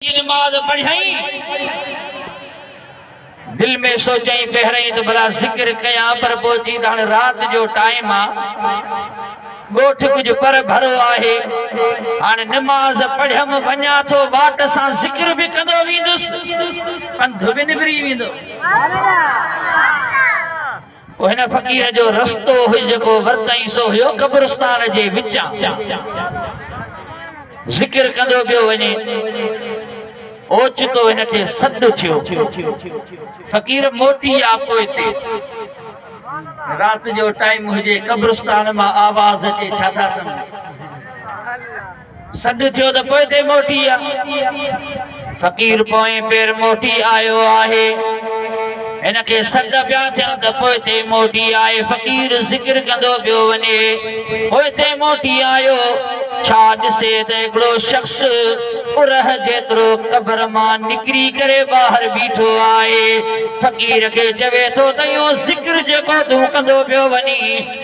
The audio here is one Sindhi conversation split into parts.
جي نماز پڙهيائين، دل ۾ سوچيائين پهرئين ته ڀلا ذڪر ڪيان پر پوء چيائين ته هاڻي رات جو ٽائيم آ، ڳوٺ ڪجهه پر ڀرو آهي، هاڻي نماز پڙهيم وڃان ٿو، واٽ سان ذڪر به ڪندو ويندس، پنڌ به نبري ويندو. او هن فقير جو رستو هئي جيڪو ورتائين سو هيو قبرستان جي وچان ذڪر ڪندو پيو وڃي اوچتو هن کي سڏ ٿيو فقير موٽي آ پوء تي رات جو ٽائيم هجي قبرستان مان آواز اچي ڇا ٿا سمجهو سڏ ٿيو ته پوئتي موٽي آ. فقير پوئين پير موٽي آيو آهي. هن کي سڏ پيا ٿين ته پوئتي موٽي آئي. فقير ذڪر ڪندو پيو وڃي. پوئتي موٽي آيو. ڇا ڏسي ته هڪڙو شخص ارهه جيترو قبر مان نڪري ڪري ٻاهر بيٺو آهي. فقير کي چوي ٿو ته اهو ذڪر جيڪو تون ڪندو پيو وڃين.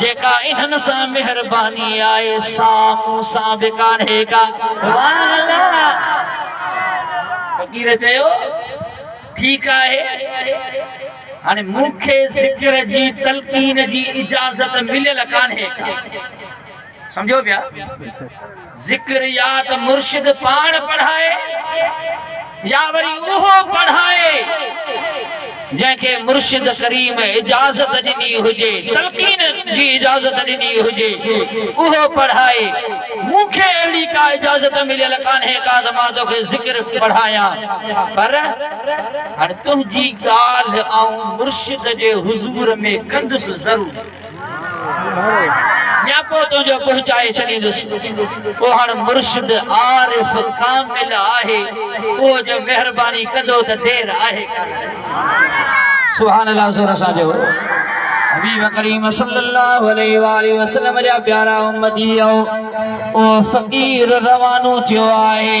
جيڪا انهن سان مهرباني آهي سا مون سان به ڪانهي ڪا. سبحان الله فقير چيو ٺيڪ آهي هاڻي مون کي ذڪر جي تلقين جي اجازت مليل ڪانهي ڪا سمجهو پيا. ذڪر يا ته مرشد پاڻ پڙهائي يا وري اهو پڙهائي جنهن کي مرشد ڪريم اجازت ڏني هجي تلقين جي اجازت ڏني هجي اهو پڙهائي مون کي اهڙي ڪا اجازت مليل ڪانهي ڪا ته مان توکي ذڪر پڙهايان پر هاڻي تنهنجي ڳالهه آئون مرشد جي حضور ۾ ڪندس ضرور نياپو تنهنجو پهچائي ڇڏيندس. اهو هاڻ مرشد عارف ڪامل آهي. اهو جو مهرباني ڪندو ته دير آهي ڪانه. سبحان الله زور سان چئو حبيب ڪريم صلي الله عليه واله وسلم جا پيارا امتيو اهو فقير روانو ٿيو آهي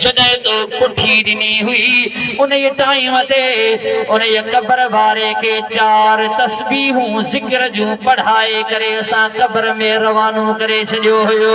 جڏهن تو پٺي ڏني هئي، انهيء ٽائيم تي انهيء قبر واري کي چار تسبيحون ذڪر جون پڙهائي ڪري اسان قبر ۾ روانو ڪري ڇڏيو هيو.